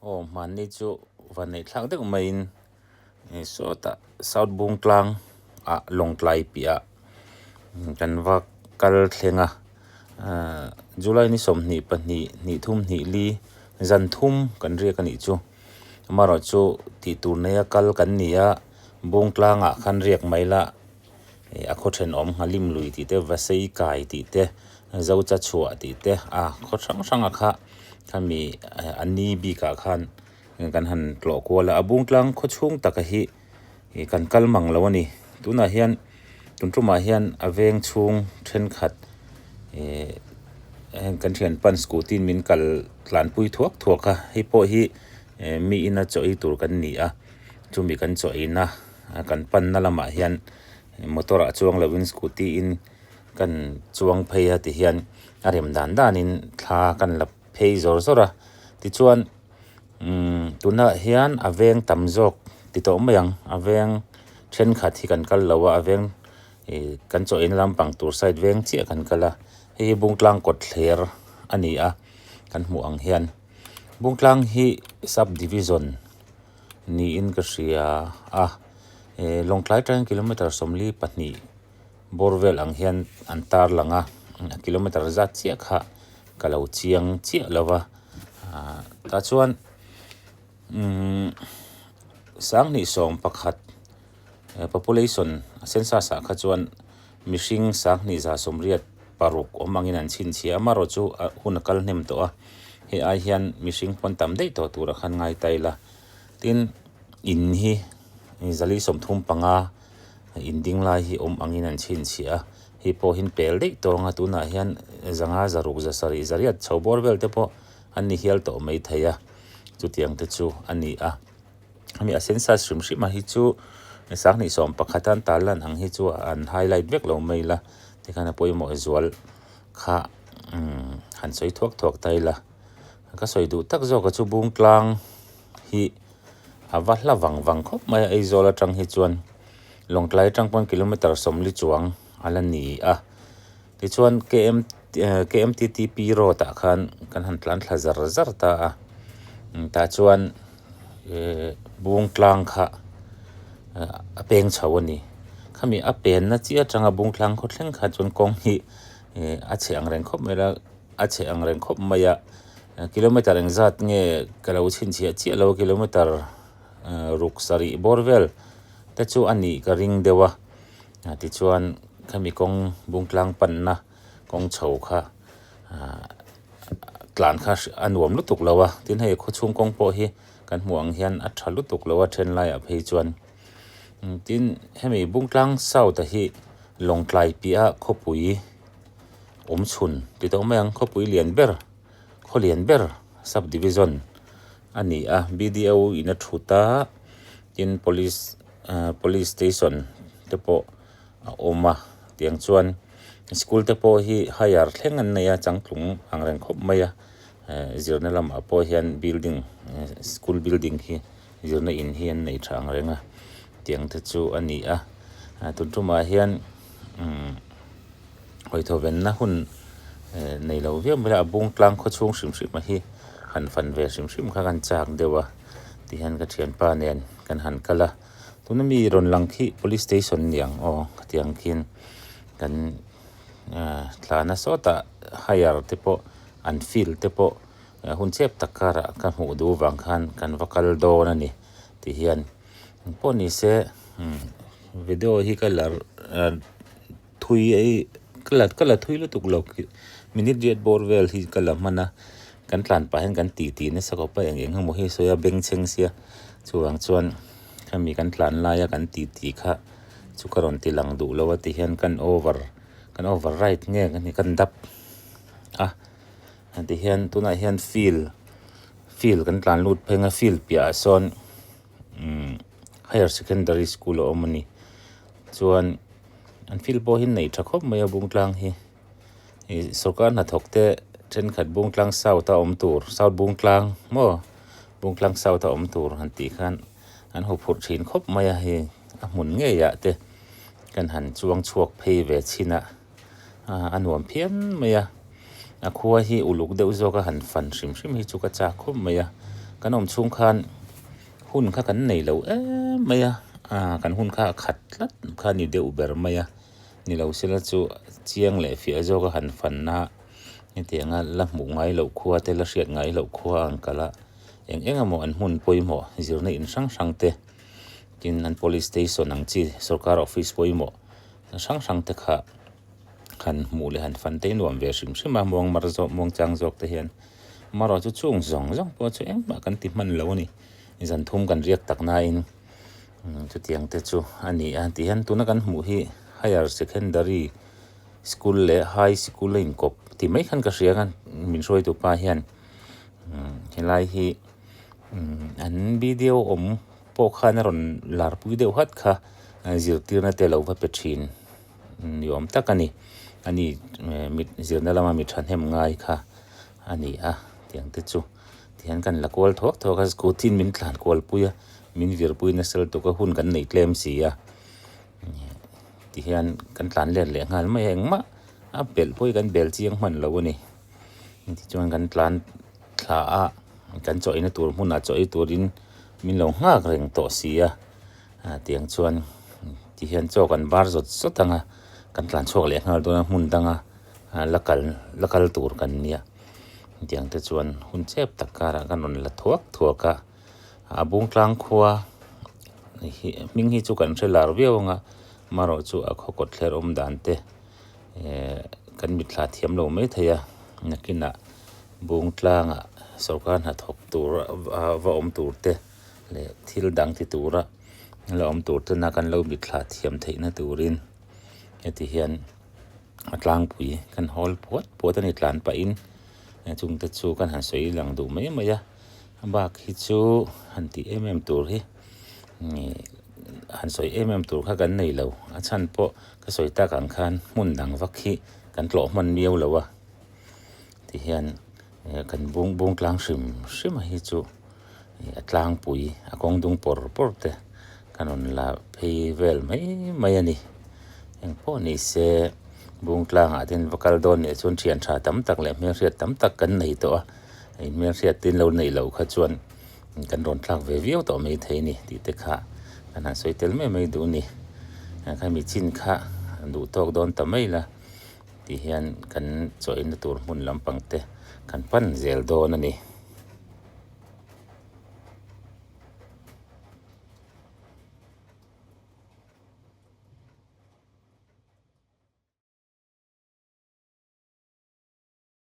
Aw hmanni chu va neih thlak deuh maiin sawtah South Bungtlang ah Lawngtlai piahah kan va kal thleng a. July ni sawmhnih pahnih hnih thum hnih li zanthum kan riak a nih chu, amaherawhchu tih tur neia kal kan ni a, Bungtlangah khan riak mai la. Hei a khawthen awm ngha lim lui tih te, vasei kai tih te, zocha chhuah tih te a khaw hrang hranga kha khami a ni bikah khan kan han tlawh kual a, a bungtlang khaw chhung taka hi kan kal mang lo a ni. Tunah hian tun tumah hian a veng chhung thenkhat ehh kan thian pan scooty in min kal tlanpui thuak thuak a, hei pawh hi miin a chaw ei tur kan ni a, chumi kan chaw eina. kan panna lamah hian motor ah chuang loh in scooty in kan chuang phei a ti hian a rem dan dan in thla kan la phei zawrh zawrh a tichuan umm tuna hian a veng tam zawk ti tawh mai ang a veng thenkhat hi kan kal lo a a veng ih kan chaw eina lampang tur side veng chiah kan kal a hei hi bungtlang kawt thler a ni a kan hmuh ang hian bungtlang hi sub division -- Niin ka hria a, e Lawngtlai tangin kilometre sawmli pahnih bawr vel ang hian an tar lang a, a kilometre zat chiah kha ka lo chiang chiah lo va, tah chuan umm sanghnih sawm pakhat. Population a census ah kha chuan mihring sang hnihza sawmriat paruk awm angin an chhinchhiah a, Maro chu a hun a kal hnem tawh a, hei ai hian mihring pawn tam daih tawh tura khan ngai ta ila. Tin, in hi zali sawmthum panga in ding lai hi awm angin an chhinchhiah a, hei pawhin pel daih tawh anga tunah hian zanga zaruk za sarih zariat chho bawr vel te pawh an ni hial tawh mai thei a, chutiang te chu a ni a. hemi a sen sat hrim hrima hi chu sangni sawm pakhata an tâl lan ang hi chu an highlight vek lo mai ila tikhan a pawimawh zual kha han sawi thuak thuak ta ila ka sawi duh tak zawka chu bung tlang hi a va hla vang vang khawp mai a Aizawl aṭang hi chuan Lawngtlai aṭang pawn kilometre sawmli chuang. A la ni a, tichuan KM KMTTP road ah khan kan han tlan thla zar zar ta a, tah chuan eh Bungtlang kha a peng chho a ni, khami a penna chiah atanga Bungtlang khaw thleng kha chuan kawng hi eh a chhe angreng khawp mai la, a chhe angreng khawp mai a, kilometer engzat nge ka lo chhinchhiah chiah lo a, kilometer ruk sarih bawr vel te chu a nih ka ring deuh a. Tichuan, khami kawng bungtlang panna kawng chho kha tlan kha a nuam lutuk lo a, tin hei khawchhung kawng pawh hi kan hmuh ang hian a tha lutuk lo a then laiah phei chuan. Tin, hemi bungtlang south a hi Lawngtlai piahah khawpui awmchhun ti tawh mai ang, khawpui lian ber. khawlian ber sub division a ni a bdo in a thut a tin police police station te pawh a awm a tiang chuan school te pawh hi hire thleng an nei a changtlung ang reng khawp mai a zirna lamah pawh hian building school building hi zirna in hi an nei tha ang reng a tiang te chu a ni a tun tumah hian umm-- Hawihthovenna hun nei lo viau mai a, a bung tlang khaw chhung hrim hrima hi han fan ve hrim hrim kha kan chak deuh a ti hian ka thianpa nen kan han kal a, tuna mi rawn lang khi police station ni ang aw ka ti ang khin kan thlana sawtah hire te pawh an field te pawh hun chep tak karah ka hmuh duh vang khan kan va kal dawn a ni ti hian pawh ni se video hi ka la. Thui hi ka la ka la thui lutuk lo minute riat bawr vel hi ka la hman a, kan tlan pah hian kan ti ti nasa khawp a eng eng emaw hi sawi a bengchheng sia chuvang chuan khami kan tlan laia kan ti ti kha chu ka rawn ti lang duh lo a ti hian kan over kan over ride nge ka ni kan dap a ti hian tunah hian field field kan tlan lut pheng a field piah ah sawn umm-- higher secondary school a awm a ni chuan an field pawh hi a nei tha khawp mai a Bungtlang hi ih sawrkar hnathawk te thenkhat Bungtlang south a awm tur south Bungtlang maw Bungtlang south a awm tur han tih khan an huphurh thin khawp mai a hei a hmun ngeiah te khan han chuang chhuak phei ve chhin a ah a nuam phian mai a a khua hi uluk deuh zawk a han fan hrim hrim hi chu ka chak khawp mai a kan awm chhung khan. Hun kha kan nei lo em mai a, aa kan hun kha a khat tlat kha a ni deuh ber mai a, ni lo sela chu chiang leh fiah zawka han fan a, hetiang a la hmuh ngai loh khua te la hriat ngai loh khua ang kal a, eng eng emaw an hmun pawimawh zirna in hrang hrang te, tin an police station ang chi sorkar office pawimawh hrang hrang te kha, han hmuh leh han fan tei nuam ve hrim hrim a, muang mar zawk muang chang zawk te hian Maro chu chhung zawng zawng pawh chu engmah kan ti hman lo a ni, zan thum kan riak tak nain chutiang te chu a ni a, ti hian tuna kan hmuh hi higher secondary school leh high school a inkawp ti mai khan ka hria kha, min hruaitu pa hian helai hi an video awm pawh khan a rawn lar pui deuh hat kha zirtirna te a lo va pe thin. ni awm tak a ni. A ni mit zirna lama mi thahnem ngai kha a ni a tiang te chu tihian ka la kual thawk thawk a scooty in min tlan kual pui a min vir pui nasal tuk a hun kan nei tlem si a tihian kan tlan let leh nghal mai a engmah a belh pawh hi kan bel chiang hman lo a ni tichuan kan tlan thla a kan chaw ina tur hmunah chaw ei turin min lo nghak reng tawh si a. A tiang chuan ti hian chaw kan bar zawt zawt anga kan tlan chhuak leh nghal dawn a hmun danga la kal la kal tur kan nia tiang te chuan hun chep tak karah ka rawn la thuak thuak a a bung tlang khua hi hming hi chu kan hre lar viau anga amarawh chu a khaw kawt thler awm dan te ehh kan mit thla thiam lo mai thei a nakinah bung tlangah sorkar hnathawk tur a va awm tur te. leh thil dang ti tura la awm tur tena kan lo mitthla thiam theihna turin heti hian a tlangpui kan hawl puat puat a ni tlan pahin a chung te chu kan han sawi lang duh mai mai a a bak hi chu han tih em em tur hi ih han sawi em em tur kha kan nei lo a chhan pawh ka sawi tak ang khan hmun dang vak hi kan tlawhman miau lo a ti hian-- eh kan bung bung tlang hrim hrim a hi chu eh a tlangpui a kawng dung pawr pawr te kan rawn la phei vel mai mai a ni eng pawh ni se bung tlangah te in va kal dawn leh chuan thian tha tam tak leh hmel hriat tam tak kan nei tawh a hei hmel hriat te in lo neih loh kha chuan kan rawn thlak ve viau tawh mai thei a ni tih te kha kan han sawi tel mai mai duh a ni eh khami chin kha duh tawk dawn ta mai la. tih hian kan chawi na tur hmun lampang te kan pan zel dawn a ni.